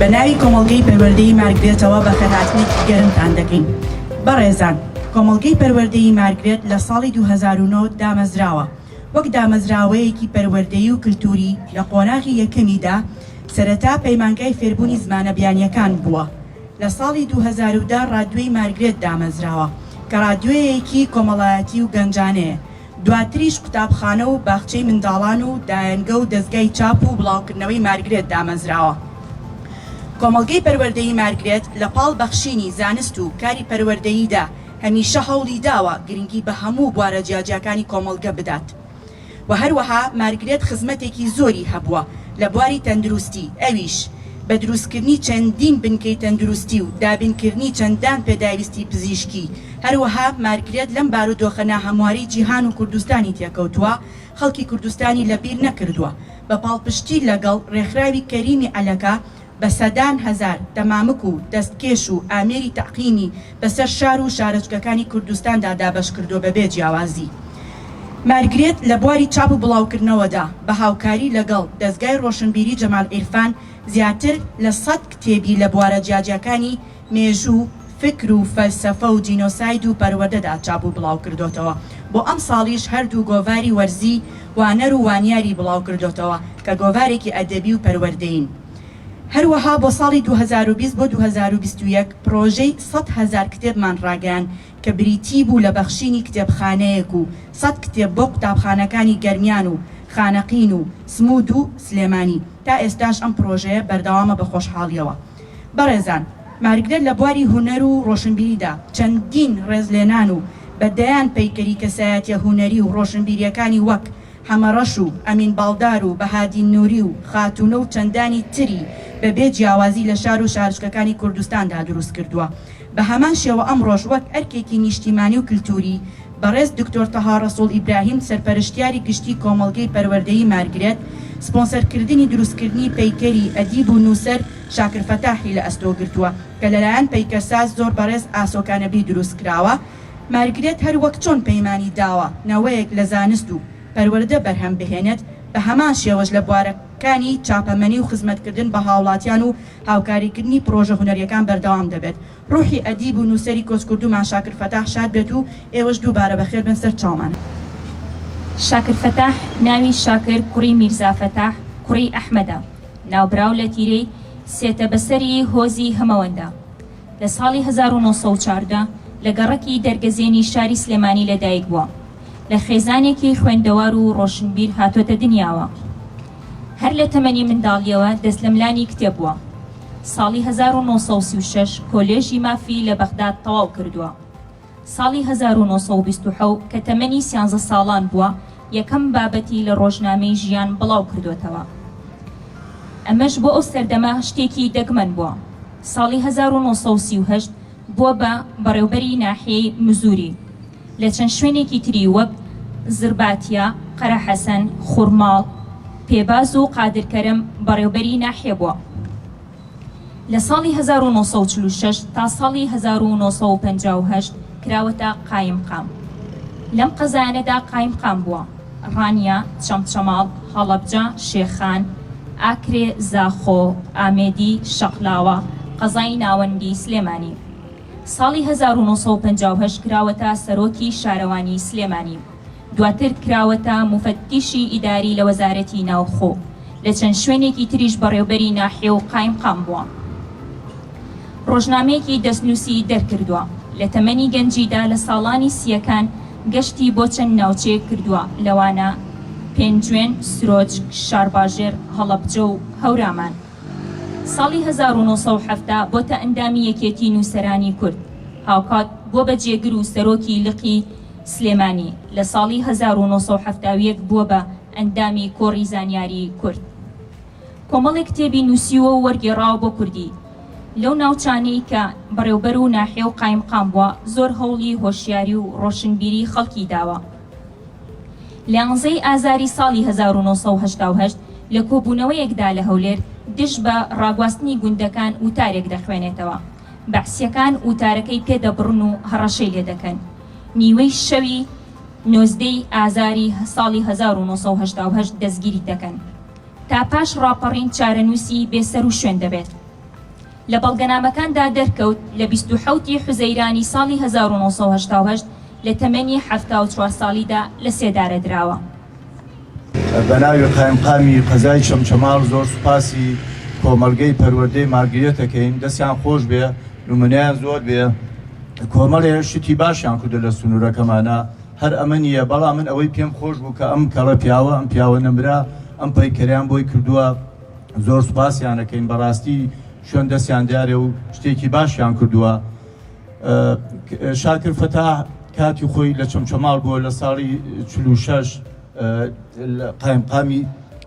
بە ناوی کۆمەڵگەی پەروەردەی مارگرێتەوە بەخێرهاتنێکی گەرمتان دەکەین بەڕێزان کۆمەڵگەی پەروەردەی مارگرێت لە ساڵی 2009 دامەزراوە وەک دامەزراوەیەکی پەروەردەی و کللتوری لە قۆناغی یەکەمیدا سەرەتا پەیمانگای فێربوونی زمانە بیانیەکان بووە لە ساڵی دوو هەزار و دە ڕادیۆی مارگرێت دامەزراوە کە ڕادیۆیەیەکی کۆمەڵایەتی و گەنجانەیە، دواتریش قوتابخانە و باخچەی منداڵان و دایەنگە و دەزگای چاپ و بڵاوکردنەوەی مارگرێت دامەزراوە. کۆمەڵگەی پەروەردەیی مارگرێت لە پاڵ بەخشینی زانست و کاری پەروەردەییدا هەمیشە هەوڵیداوە گرنگی بە هەموو بوارە جیاجیاکانی کۆمەڵگە بدات، و هەروەها مارگرێت خزمەتێکی زۆری هەبووە لە بواری تەندروستی ئەویش بە دروستکردنی چەندین بنکەی تەندروستی و دابینکردنی چەندان پێداویستی پزیشکی هەروەها مارگرێت لەم بارودۆخە ناهەمواری جیهان و کوردستانی تێکەوتووە خەڵکی کوردستانی لەبیر نەکردووە بە پاڵپشتی لەگەڵ رێکخراوی کەریمی عەلەکە بە سەدان هەزار دەمامک و دەستکێش و ئامێری تەعقیمی بەسەر شار و شارۆچکەکانی کوردستاندا دابەش کردووە بە بێ جیاوازی. مارگرێت لە بواری چاپ و بڵاوکردنەوەدا بە هاوکاری لەگەڵ دەزگای ڕۆشنبیری جەمال عیرفان زیاتر لە سەد کتێبی لە بوارە جیاجیاکانی مێژوو، فکر و فەلسەفە و جینۆساید و پەروەردەدا چاپ و بڵاوکردۆتەوە. بۆ ئەمساڵیش هەردوو گۆڤاری وەرزی وانەر و وانیاری بڵاوکردۆتەوە کە گۆڤارێکی ئەدەبی و پەروەردەیین. هەروەها بۆ ساڵی دوو هەزار و بیست بۆ دوو هەزار و بیست و یەک پڕۆژەی سەد هەزار کتێبمان ڕاگەیاند کە بریتی بوو لە بەخشینی کتێبخانەیەک و سەد کتێب بۆ قوتابخانەکانی گەرمیان و خانەقین و سموود و سلێمانی. تا ئێستاش ئەم پڕۆژەیە بەردەوامە بە خۆشحاڵییەوە. بەڕێزان مارکدەر لە بواری هونەر و ڕۆشنبیریدا چەندین ڕێزلێنان و بە دەیان پەیکەری کەسایەتیە هونەری و ڕۆشنبیریەکانی وەک حەمە ڕەش و ئەمین باڵدار و بەهادین نوری و خاتونە و چەندانی تری بە بێ جیاوازی لە شار و شارچکەکانی کوردستاندا دروست کردوە بە هەمان شێوە ئەمڕۆش وەک ئەرکێکی نیشتیمانی و کلتوری بەڕێز دکتۆر تەها ڕەسوڵ ئیبراهیم سەرپەرشتیاری گشتی کۆمەڵگەی پەروەردەیی مارگرێت، سپۆنسەرکردنی دروستکردنی پەیکەری ئەدیب و نووسەر شاکر فەتاحی لە ئەستۆ گرتووە کە لەلایەن پەیکەرساز زۆر بەڕێز ئاسۆ کانەبی دروستکراوە، مارگرێت هەر وەک چۆن پەیمانی داوە نەوەیەک لە زانست و پەروەردە بەرهەم بهێنێت بە هەمان شێوەش لە بوارەکانی چاپەمەنی و خزمەتکردن بە هاوڵاتیان و هاوکاریکردنی پڕۆژە هونەریەکان بەردەوام دەبێت. ڕوحی ئەدیب و نووسەری کۆچکردوومان شاکر فەتاح شاد بێت و ئێوەش دووبارە بەخێر بن سەر چاومان. شاکر فەتاح ناوی شاکر کوڕی میرزا فەتاح کوڕی ئەحمەدە ناوبراو لە تیرەی سێتەبەسەری هۆزی هەمەوەندە لە ساڵی هەزار و نۆ سەد و چواردە لە گەڕەکی دەرگەزێنی شاری سلێمانی لەدایکبووە. لە خێزانێکی خوێندەوار و ڕۆشنبیر هاتۆتە دنیاوە. هەر لە تەمەنی منداڵییەوە دەست لە ملانی کتێب بووە. ساڵی هەزار و نۆ سەد و سی و شەش کۆلێژی مافی لە بەغداد تەواو کردووە. ساڵی هەزار و نۆ سەد و بیست و حەوت کە تەمەنی سیانزە ساڵان بووە، یەکەم بابەتی لە ڕۆژنامەی ژیان بڵاو کردۆتەوە. ئەمەش بۆ ئەو سەردەمە شتێکی دەگمەن بووە. ساڵی هەزار و نۆ سەد و سی و هەشت بووە بە بەڕێوبەری ناحیەی مزوری لە چەند شوێنێکی تری وەک زرباتیە، قەرەحەسەن، خورماڵ، پێباز و قادرکەرم بەڕێوبەری ناحیە بووە. لە ساڵی هەزار و نۆ سەد و چل و شەش تا ساڵی هەزار و نۆ سەد و پەنجا و هەشت کراوەتە قایمقام. لەم قەزایانەدا قایمقام بووە. ڕانیە، چەمچەماڵ، هەڵەبجە، شێخان، ئاکرێ، زاخۆ، ئامێدی، شەقلاوە، قەزای ناوەندی سلێمانی. ساڵی هەزار و نۆ سەد و پەنجا و هەشت کراوەتە سەرۆکی شارەوانی سلێمانی. دواتر کراوەتە موفەتتیشی ئیداری لە وەزارەتی ناوخۆ. لە چەند شوێنێکی تریش بەڕێوبەری ناحیە و قایمقام بووە. ڕۆژنامەیەکی دەستنووسی دەرکردووە، لە تەمەنی گەنجیدا لە ساڵانی سییەکان گەشتی بۆ چەند ناوچەیەک کردووە، لەوانە پێنجوێن، سرۆج، شارباژێر، هەڵەبجە و هەورامان. ساڵی هەزار و نۆ سەد و حەفتا بۆتە ئەندامی یەکێتی نووسەرانی کورد، هاوکات بووە بە جێگر و سەرۆکی لقی سلێمانی، لە ساڵی هەزار و نۆ سەد و حەفتا و یەک بووە بە ئەندامی کۆڕی زانیاری کورد. کۆمەڵێک کتێبی نووسیوە و وەرگێڕاوە بۆ کوردی. لەو ناوچانەی کە بەڕێوبەر و ناحیە و قایمقام بووە، زۆر هەوڵی هۆشیاری و ڕۆشنبیریی خەڵکی داوە. لە یانزەی ئازاری ساڵی هەزار و نۆ سەد و هەشتا و هەشت لە کۆبوونەوەیەکدا لە هەولێر، دژ بە ڕاگواستنی گوندەکان وتارێک دەخوێنێتەوە. بەعسییەکان وتارەکەی پێ دەبڕن و هەڕەشەی لێ دەکەن. نیوەی شەوی نۆزدەی ئازاری ساڵی هەزار و نۆ سەد و هەشتا و هەشت دەستگیری دەکەن. تا پاش ڕاپەڕین چارەنووسی بێ سەر و شوێن دەبێت. لە بەڵگەنامەکاندا دەرکەوت لە بیست و حەوت ی حوزەیرانی ساڵی هەزار و نۆ سەد و هەشتا و هەشت لە تەمەنی حەفتا و چوار ساڵیدا لە سێدارە دراوە. بە ناوی قایمقامی قەزای چەمچەماڵ زۆر سوپاسی کۆمەڵگەی پەروەردەی مارگرێت ئەکەین دەستیان خۆش بێ نمونەیان زۆر بێ کۆمەڵێ شتی باشیان کردو لە سنورەکەمانا هەر ئەمە نییە، بەڵام من ئەوەی پێم خۆش بوو کە ئەم کەڵە پیاوە، ئەم پیاوە نەمرە، ئەم پەیکەرەیان بۆی کردووە، زۆر سوپاسیان ئەکەین، بەڕاستی شوێن دەستیان دیارە و شتێکی باشیان کردووە. شاکر فەتاح کاتی خۆی لە چەمچەماڵ بووە، لە ساڵی چل و شەش قایمقامی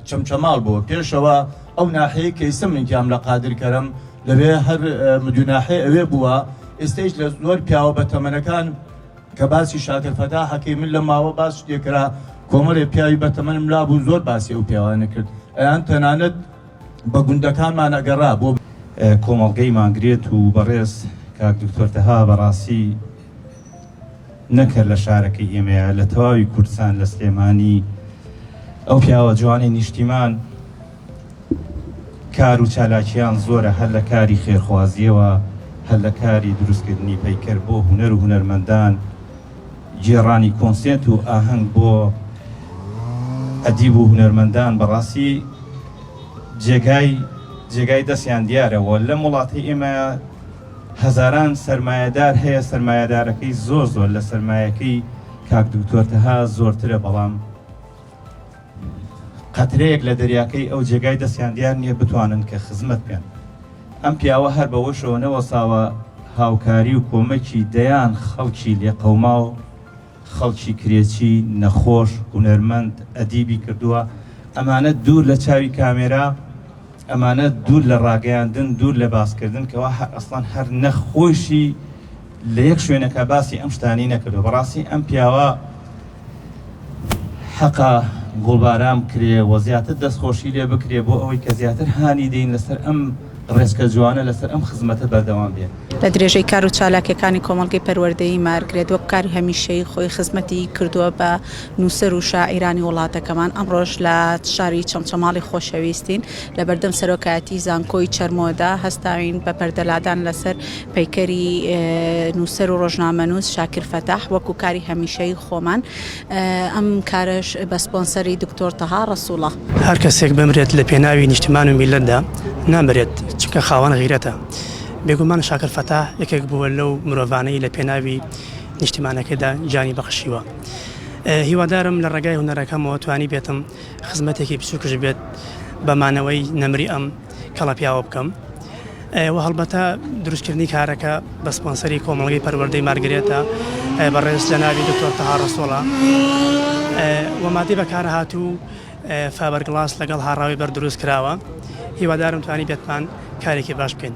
چەمچەماڵ بووە، پێشەوە ئەو ناحیەی کە ئیسە من تیام لە قادر کەرەم لەوێ هەر مدووناحێ ئەوێ بووە، ئێستەیش لە زۆر پیاوە بەتەمەنەکان، کە باسی شاکر فەتاح ئەکەی من لەم ماوە باس لێ کرا کۆمەڵێ پیاوی بەتەمەنم لابوون زۆر باسی ئەو پیاوانە کرد ئەیان تەنانەت بە گوندەکانمان ئەگەڕا بۆ کۆمەڵگەی مانگرێت و بەڕێز کاک دکتۆر تەها بەڕاستی نەکەر لە شارەکەی ئێمەیە لە تەواوی کوردستان لە سلێمانی ئەو پیاوە جوانی نیشتیمان کار و چالاکیان زۆرە هەر لە کاری خێرخوازییەوە هەر لە کاری دروستکردنی پەیکەر بۆ هونەر و هونەرمەندان، گێڕانی کۆنسێرت و ئاهەنگ بۆ ئەدیب و هونەرمەندان بەڕاستی جێگای جێگای دەستیان دیارە و لەم وڵاتەی ئێمە هەزاران سەرمایەدار هەیە سەرمایەدارەکەی زۆر زۆر لە سەرمایەکەی کاک دکتۆر تەها زۆرترە بەڵام قەترەیەک لە دەریاکەی ئەو جێگای دەستیان دیار نیە بتوانن کە خزمەت بکەن. ئەم پیاوە هەر بەوەشەوە نەوەستاوە هاوکاری و کۆمەکی دەیان خەڵکی لێقەوماو، خەڵکی کرێچی، نەخۆش، هونەرمەند، ئەدیبی کردووە، ئەمانە دوور لە چاوی کامێرا، ئەمانە دوور لە ڕاگەیاندن، دوور لە باسکردن کەوا ئەسڵەن هەر نەخ خۆیشی، لە یەک شوێنەکە باسی ئەم شتانی نەکردو بەڕاستی ئەم پیاوە حەقە گوڵباران بکرێ و زیاتر دەستخۆشی لێ بکرێ بۆ ئەوەی کە زیاتر هانی دەین لەسەر ئەم ڕێسکە جوانە لەسەر ئەم خزمەتە بەردەوام بێت. لە درێژەی کار و چالاکیەکانی کۆمەڵگەی پەروەردەیی مارگرێت وەک کاری هەمیشەیی خۆی خزمەتی کردووە بە نووسەر و شاعیرانی وڵاتەکەمان ئەمڕۆش لە شاری چەمچەماڵی خۆشەویستین لە بەردەم سەرۆکایەتی زانکۆی چەرمۆدا هەستاوین بە پەردەلادان لەسەر پەیکەری نووسەر و ڕۆژنامەنووس شاکر فەتاح وەکو کاری هەمیشەی خۆمان ئەم کارەش بە سپۆنسەری دکتۆر تەها ڕەسوڵە هەر کەسێک بمرێت لە پێناوی نیشتمان و میلەتدا نامرێت چونکە خاوەن غیرەتە بێگومان شاکر فەتاح یەکێک بووە لەو مرۆڤانەی لە پێناوی نیشتمانەکەدا گیانی بەخشیوە هیوادارم لە ڕێگای هونەرەکەمەوە توانی بێتم خزمەتێکی بچووکش بێت بە مانەوەی نەمری ئەم کەڵەپیاوە بکەم و هەڵبەتە دروستکردنی کارەکە بە سپۆنسەری کۆمەڵگەی پەروەردەی مارگرێتە بەڕێز جەناوی دکتۆر تەها ڕسوڵە ومادی بەکارە هاتوو فابەرگڵاس لەگەڵ هاڕاوی بەر دروست کراوە هیوادارم توانی بێتمان کارێکی باش بکەین.